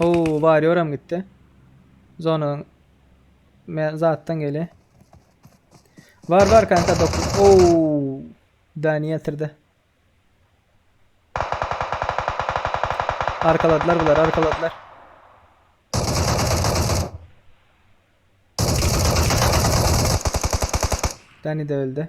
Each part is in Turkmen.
Oo, warrior hem gitdi. Zona men zatdan gele. Var var kanka dokuz. Oo. Dani yatırdı. Arkaladılar bunlar arkaladılar. Dani de öldü.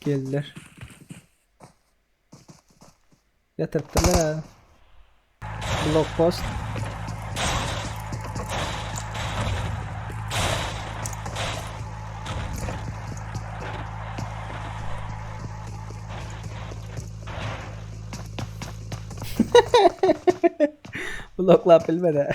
Geldiler. Yatırttılar abi. Blok post. Bloklap bilmedi.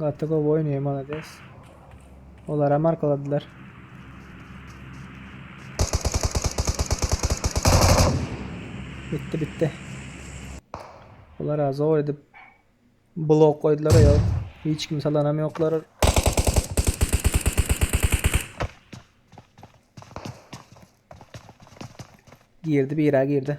Gaty gowy oýnaýar malades. Olara markaladylar. Bitti bitti. Olara zor edip blok koydular ya. Hiç kim salanam yoklar. Girdi bira girdi.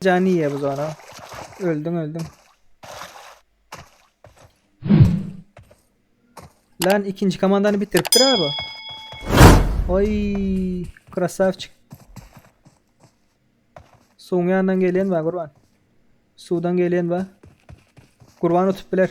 Jany ýe bu zara. Öldüm öldüm. Lan ikinci komandanı bitiripdir abi. Oy krasavçik. Suwun yanından gelen var kurban. Sudan gelen var. Kurban tutup biler.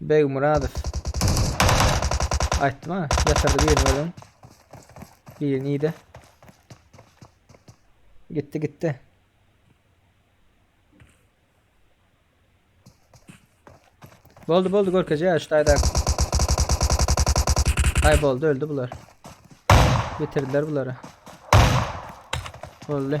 Begmyradow. Aýtdym ha, ýatyrdy birini görüň. Biri nide? Gitdi gitdi. Boldy boldy görkeje ya şu tayda. Ay boldu öldü bular. Bitirdiler bunları. Oldu.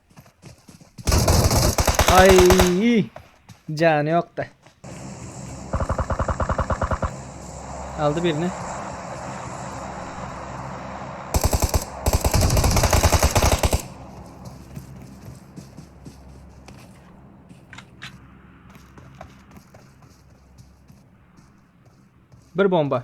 Ay, canı yok da. Aldı birini. Bir bomba.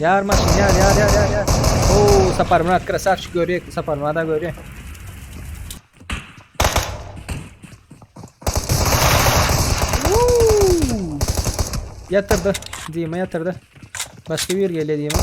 Yar maşyn yar yar yar yar yar. Oo Sapar Murat krasavçı görüyor ki Sapar Murat da görüyor. Yatırdı. Dima yatırdı. Başka bir geliyor Dima.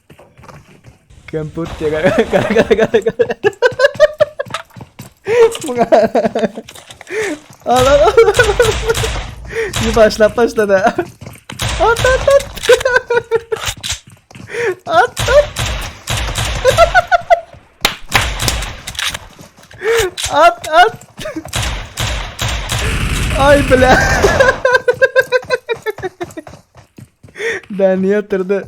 Kemput çeker. Al al al. Şimdi başlap başladı. At at at. At at. At at. Ay bile. Beni yatırdı.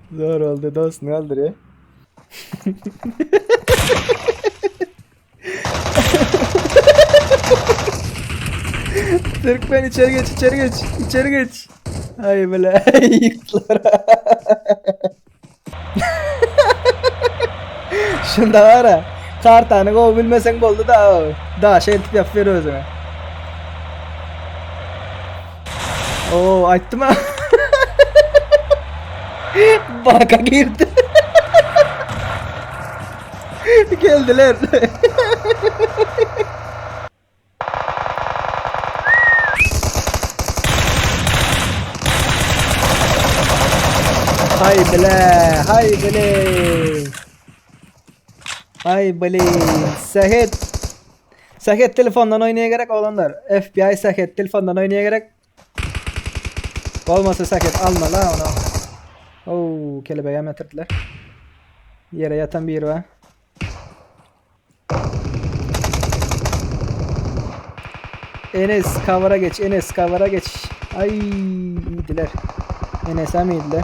Zor oldu dost ne oldu re? Türkmen içeri geç içeri geç içeri geç. Ay bile yıklara. Şunda var ya kartanı kov bilmesen boldu da o. Da şey tip yap ver özüne. Oo aýtdym ha. Baka girdi. Geldiler. hay bile, hay bile. Hay bile. Sehet Sähet telefondan oýnaýa gerek oglanlar. FBI sähet telefondan oýnaýa gerek. Bolmasa sähet almaly ha ona. Oo, kelebegi hem ýatyrdylar. Ýere ýatan biri bar. Enes kavara geç, Enes kavara geç. Ay iyidiler. Enes'e miydiler?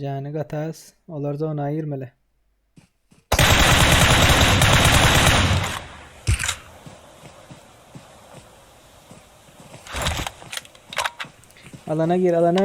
Jany gatas, olar zona girmeli. Alana gir, alana.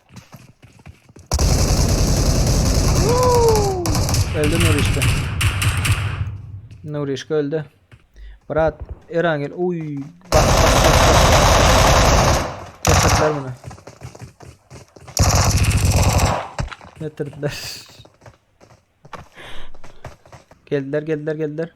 Öldü Nurişka. Nurişka öldü. Brat Erangel uy bak bak bak bak. Getirdiler Geldiler geldiler geldiler.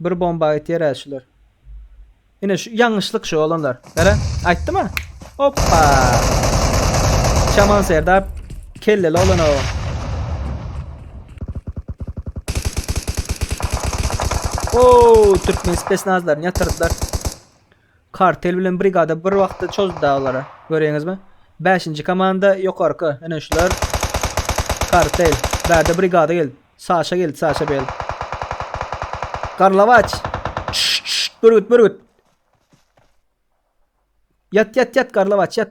Bir bomba ýeterä şular. Ine şu ýalňyşlyk şu olanlar. Gara, aýtdyma. Hoppa. Şaman Serdar kelleli olan o. Oo, Türkmen spesnazlarını yatırdılar. Kartel bilen brigada bir wagtda çozdy dagy olara. Göreňizmi? Bäşinji komanda ýokarky. Ine şular. Kartel. Bärde brigada geldi. Saşa geldi, Saşa Bel. Garlawaç. Bürgüt, bürgüt. Ýat, ýat, ýat, Garlawaç, ýat.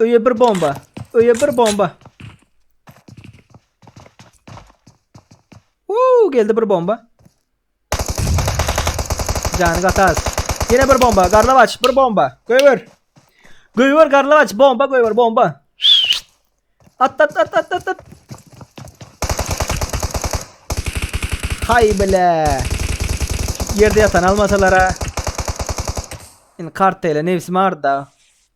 Öýe bir bomba. Öýe bir bomba. Uuu geldi bir bomba. Canı gatar. Yine bir bomba. Garlavaç bir bomba. Göver. Göver garlavaç bomba göver bomba. At at at at at at. Hay bile. Yerde yatan almasalara. Şimdi kart ile nefsim arda.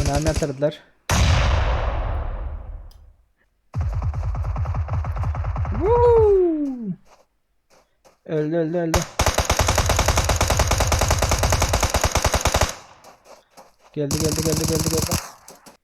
Önemli atırdılar. Öldü öldü öldü. Geldi geldi geldi geldi geldi.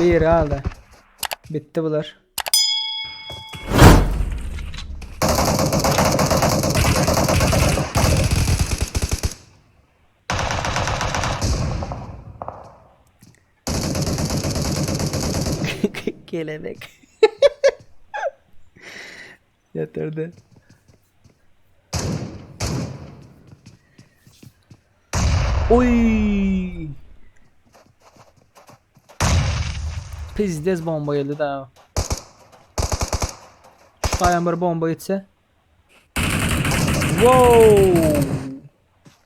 Bir galdy. Bitti bular. Kelebek. Yeterdi. Oy! Pizdez bomba geldi da. Şu taýan bir bomba gitse. Wow!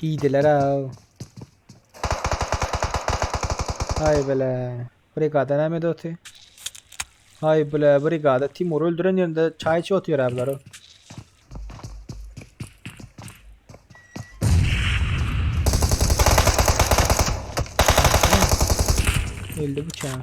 Giydiler ha. Hay bile. Brigada näme de otu? Hay bile brigada Timur öldüren yerinde çay içi otuyor abiler o. Öldü bıçağı.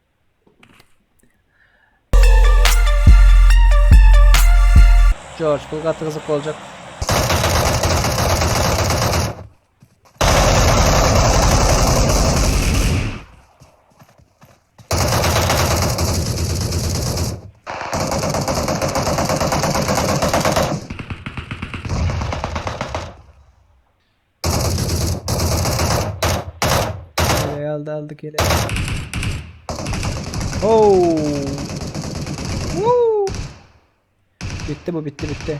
George bu gaty gyzyk boljak. Gele aldı aldı gele. Oh. Woo. Bitti bu bitti bitti.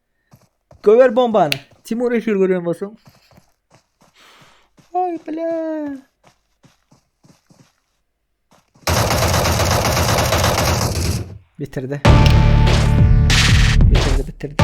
Göver bombany. Timur efir görýän bolsaň. Ay bile. Bitirdi. Bitirdi bitirdi.